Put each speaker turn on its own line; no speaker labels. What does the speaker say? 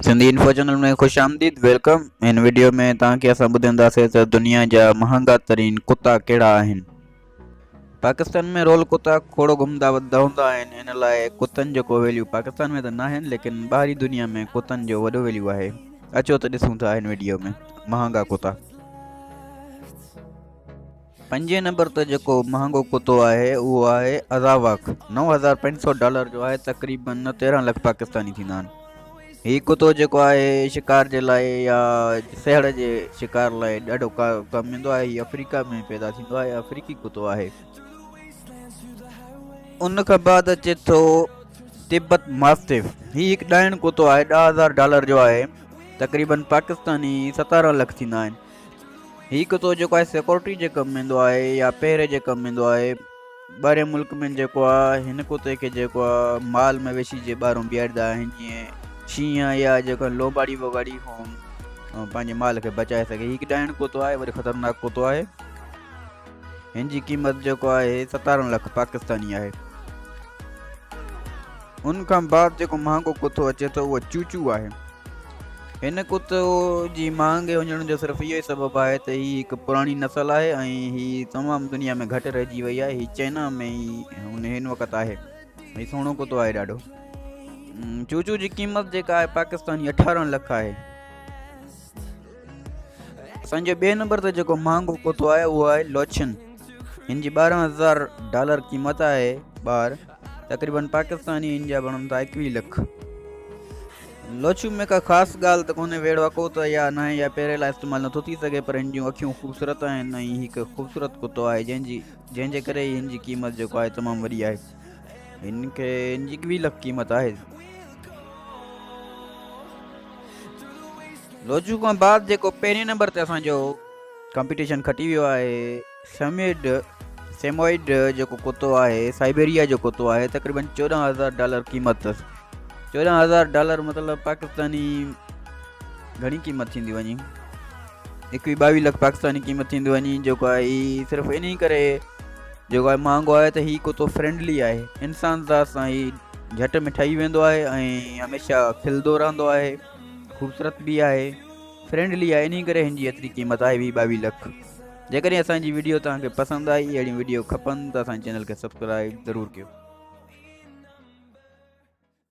Sindhi info channel ۾ خوش آمديد welcome هن ويڊيو ۾ توهان کي اسان ٻڌائينداسين ته دنيا جا مهانگا ترين ڪتا ڪهڙا آهن پاڪستان ۾ رول کتا کوڙو گهمدا وڌدا هوندا آهن ان لاء ڪتن جو ڪو ويليو پاڪستان ۾ ته ناهن ليڪن ٻاهري دنيا ۾ ڪتن جو وڏو ويليو آهي اچو ته ڏسون ٿا هن ويڊيو ۾ مهانگا ڪتا پنجين نمبر تي جيڪو مهانگو ڪتو آهي اهو آهي ازاواڪ نو هزار پنج سؤ ڊالر جو آهي تقريباً تيرهن لک پاڪستاني ٿيندا آهن هي ڪتو جيڪو آهي شڪار جي لاء يا سهڙ جي شڪار لاء ڏاڍو ڪم ايندو آهي هي آفريڪا ۾ پيدا ٿيندو آهي آفريڪي ڪتو آهي ان کان بعد اچي ٿو تبت ماستف هي هڪ ڏائڻ ڪتو آهي ڏهه هزار ڊالر جو آهي تقريباً پاڪستاني ستارهن لک ٿيندا آهن هي ڪتو جيڪو آهي سيڪورٽي جي ڪم ايندو آهي يا پهري جي ڪم ايندو آهي ٻاهرين ملڪ ۾ جيڪو آهي هن ڪتي کي جيڪو آهي مال مويشي جي ٻاهرون بيهاريندا آهن جيئن شينهن يا جيڪو لوباڙي ووباڙي هون پنهنجي مال کي بچائي سگهي هي هڪ ڏائڻ ڪتو آهي وري خطرناڪ ڪتو آهي هن جي قيمت جيڪو آهي ستارهن لک پاڪستاني آهي ان کان بعد جيڪو مهانگو ڪتو اچي ٿو اهو چوچو آهي هن ڪتو جي مهانگي وڃڻ جو صرف اهو ئي سبب آهي ته هي هڪ پراڻي نسل آهي ۽ هي تمام دنيا ۾ گهٽ رهجي وئي آهي هي چائنا ۾ هن هن وقت آهي هي سهڻو ڪتو آهي ڏاڍو چوچو جي قيمت جيڪا آهي پاڪستاني اٺارهن لک آهي اسان جي ٻئي نمبر تي جيڪو مهانگو ڪتو آهي اهو آهي لوچن هن جي ٻارهن هزار ڊالر قيمت آهي ٻار تقريبن پاڪستاني هن جا بڻن ٿا ايڪويهه لک لوچو ۾ ڪا خاص ڳالهه ته ڪونهي ويڙهو اڪو ته يا ناهي يا پيري لاء استعمال نٿو ٿي سگهي پر هن جون اکيون خوبصورت آهن ۽ هڪ خوبصورت ڪتو آهي جنهن جي جنهن جي ڪري هن جي قيمت جيڪو آهي تمام وڏي آهي هن کي هن جي ڪوي لک قيمت آهي لوجو کان بعد جيڪو پهرين نمبر تي اسان جو ڪمپيٽيشن کٽي ويو آهي سميڊ سيموئڊ جيڪو ڪتو آهي سائبيريا جو ڪتو آهي تقريبن چوڏهن هزار ڊالر قيمت اٿس چوڏهن هزار ڊالر مطلب پاڪستاني گھڻي قيمت ٿيندي وڃي ايڪوي ٻاويهه لک پاڪستاني قيمت ٿيندي وڃي جيڪو آهي صرف ان ڪري جيڪو آء مهانگو آهي ته هي ڪتو فرينڊلي آهي انسان ذات سان هي جهٽ ۾ ٺهي ويندو آهي ۽ هميشه کلندو رهندو آهي خوبصورت به آهي فرينڊلي آهي انهي ڪري هن جي ايتري قيمت آهي وي ٻاويهه لک جيڪڏهن اسان جي ويڊيو توهان کي پسند آئي اهڙيون ويڊيو کپن ته اسان جي چينل کي سبسڪرائب ضرور ڪيو